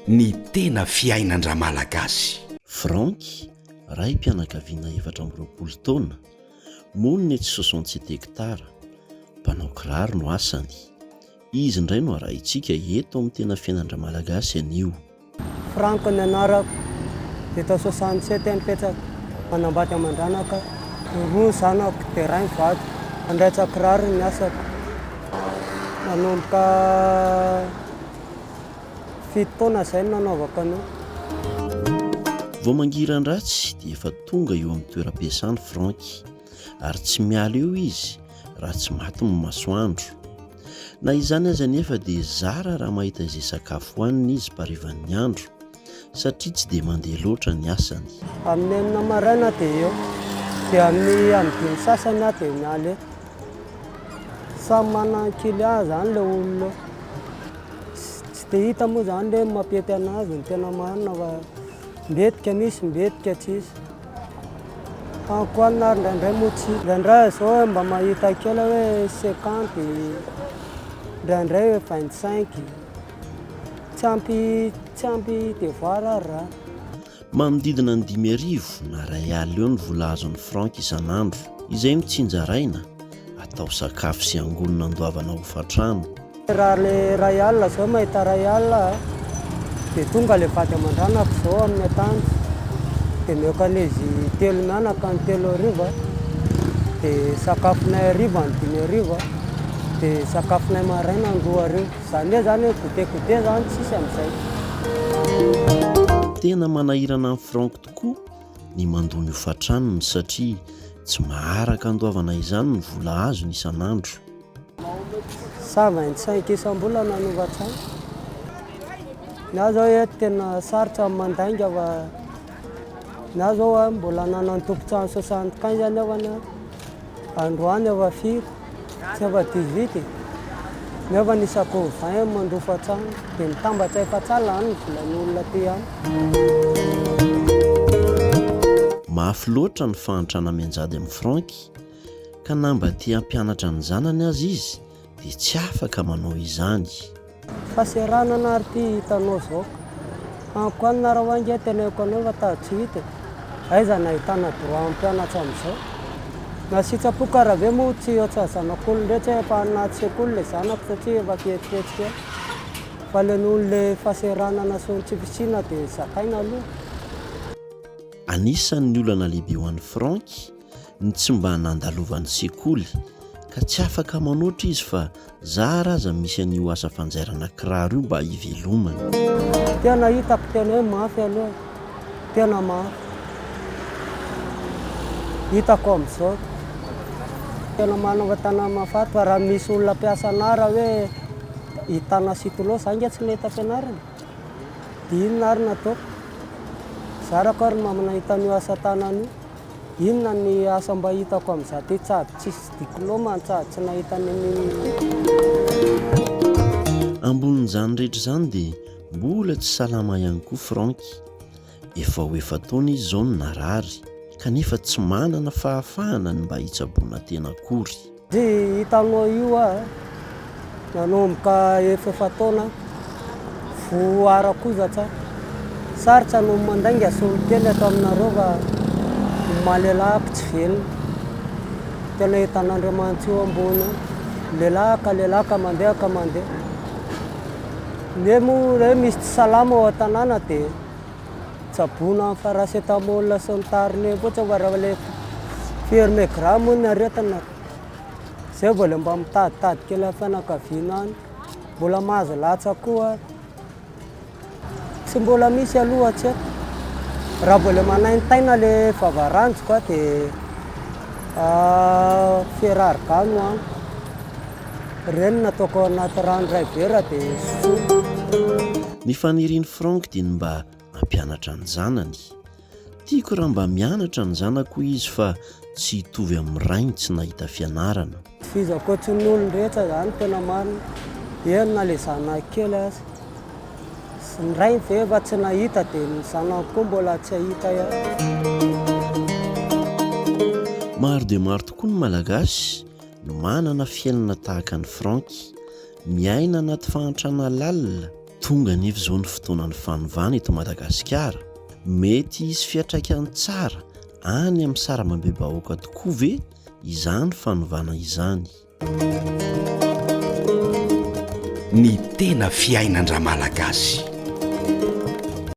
Ny tena fiainan-dRamalagasy. Franck, raim-pianakaviana efatra amby roapolo taona, monina etsy soixante-sept hectares, mpanao kiraro no asany. Izy indray no arahintsika eto amin'ny tena fiainan-dRamalagasy anio. Franck ny anarako, dia tao soixante sept aho nipetraka, manambady aman-dranaka, roa ny zanako, dia iray mivady, mandaitsa kiraro ny asako, nanomboka fito taona izay no nanaovako an'io. Vao mangiran-dratsy dia efa tonga eo amin'ny toeram-piasany Franck, ary tsy miala eo izy raha tsy maty ny masoandro. Na izany aza anefa dia zara raha mahita izay sakafo hohaniny izy mparivan'ny andro satria tsy dia mandeha loatra ny asany. Amin'ny enina maraina dia eo, dia amin'ny amin'ny dimy sasany aho dia miala eto. Samy manana ny client izany ilay olona. Tsy dia hita moa izany hoe mampiety anazy ny tena marina fa mbetika misy, mbetika tsisy. Ankoanina ary indraindray moa tsy. Indraindray izao mba mahita kely hoe cinquante, indraindray hoe vingt cinq. Tsy ampy tsy ampy devoir ary raha. Manodidina ny dimy arivo na iray alina eo ny vola azon'ny franc isan'andro. Izay no tsinjaraina. Atao sakafo sy angonina andoavana hofantrano. Raha le iray alina zao mahita iray alina dia tonga le vady aman-dranako zao amin'ny antanjy dia mihoakan'izy telo mianaka ny telo hariva dia sakafonay hariva ny dimy hariva dia sakafonay maraina ny roa hariva zany hoe zany hoe goûter goûter zany tsisy amin'izay. Tena manahirana an'i Franck tokoa ny mandoa ny hofan-tranony satria tsy maharaka andoavana izany ny vola azony isan'andro. Cent vingt cinq isam-bolana ny hofan-trano. Ny ahy izao eto tena sarotra ny mandainga fa ny ahy izao mbola nanana ny tompon-trano soixante quinze anie aho. Androany aho firy? Tsy aho fa dix-huit e! Nefa ny isakô vingt aho mandrofo hatrany, dia mitambatra efa tsy alina ny volan'olona aty amiko. Mafy loatra ny fahantrana mianjady amin'i Franck, ka na mba te hampianatra ny zanany aza izy, dia tsy afaka manao izany. Fa seranana ary ty hitanao zao. Amiko any nareo any nge teneniko anao fa ta tsy hita e. Aiza no ahitana droit am pianatra amizao. Na sitsapoka ara ve moa tsy otsa zanak'olona ndray tsy hay efa anaty sekoly le zanako satria efa fihetsiketsiky eo. Fa le noho le faseranana sy ny tsy fisiana dia zakaina aloha. Anisan'ny olana lehibe ho an'i Franck ny tsy mba nandalovan'ny sekoly ka tsy afaka manoatra izy fa zara aza misy an'io asa fanjairana kiraro io mba hivelomany. Tena hitako tena hoe mafy aloha, tena mafy. Hitako amin'izao. Tena manova tana mafaty fa raha misy olona mpiasa anà raha hoe i Tana sy Tolô za nge tsy nahita fianarana. Dia inona ary no ataoko? Zarako ary mba manahita an'io asa tanana io. Inona ny asa mba hitako am za tetsy aby tsisy diploma antsa tsy nahita ny mimi. Ambonin'izany rehetra izany dia mbola tsy salama ihany koa Franck. Efa ho efa-taona izy izao no narary, kanefa tsy manana fahafahana ny mba hitsaboana tena akory. Tsy hitanao io aho eh. Nanomboka efa-efa-taona aho vao ara-kozatra. Sarotra no mandainga solontena eto aminareo fa ny maha-lelahako tsy velona. Tena hitan'Andriamanitra eo ambony eo. Lehilahy ka lehilahy ka mandeha ka mandeha. Nge moa hoe misy tsy salama ao an-tanàna dia Tsaboina ny paracetamol sy ny tariny koa tsy mba le firy megrama hono ny aretina. Zay vao le mba mitaditady kely amin'ny fianakaviana any. Mbola mahazo latsaka koa ary. Tsy mbola misy aloha tsy haiko. Raha vao le manaintaina le vava ranjoko dia ferargan no amiko. Ireny no ataoko anaty rano iray vera dia sotroiko. Ny fanirian'i Franck dia ny mba hampianatra ny zanany. Tiako raha mba mianatra ny zanako hoy izy fa tsy hitovy amin'ny rainy tsy nahita fianarana. Tohizako tsy ny olony rehetra izany no tena marina. Eny na ilay zanako kely aza. Ny rainy ve efa tsy nahita dia ny zanako koa mbola tsy hahita ihany. Maro dia maro tokoa ny Malagasy no manana fiainana tahaka an'i Franck. Miaina anaty fahantrana lalina. Tonga anefa izao ny fotoanan'ny fanovana eto Madagasikara. Mety hisy fiantraikany tsara any amin'ny sarambambe-bahoaka tokoa ve izany fanovana izany? Ny tena fiainan-dRamalagasy.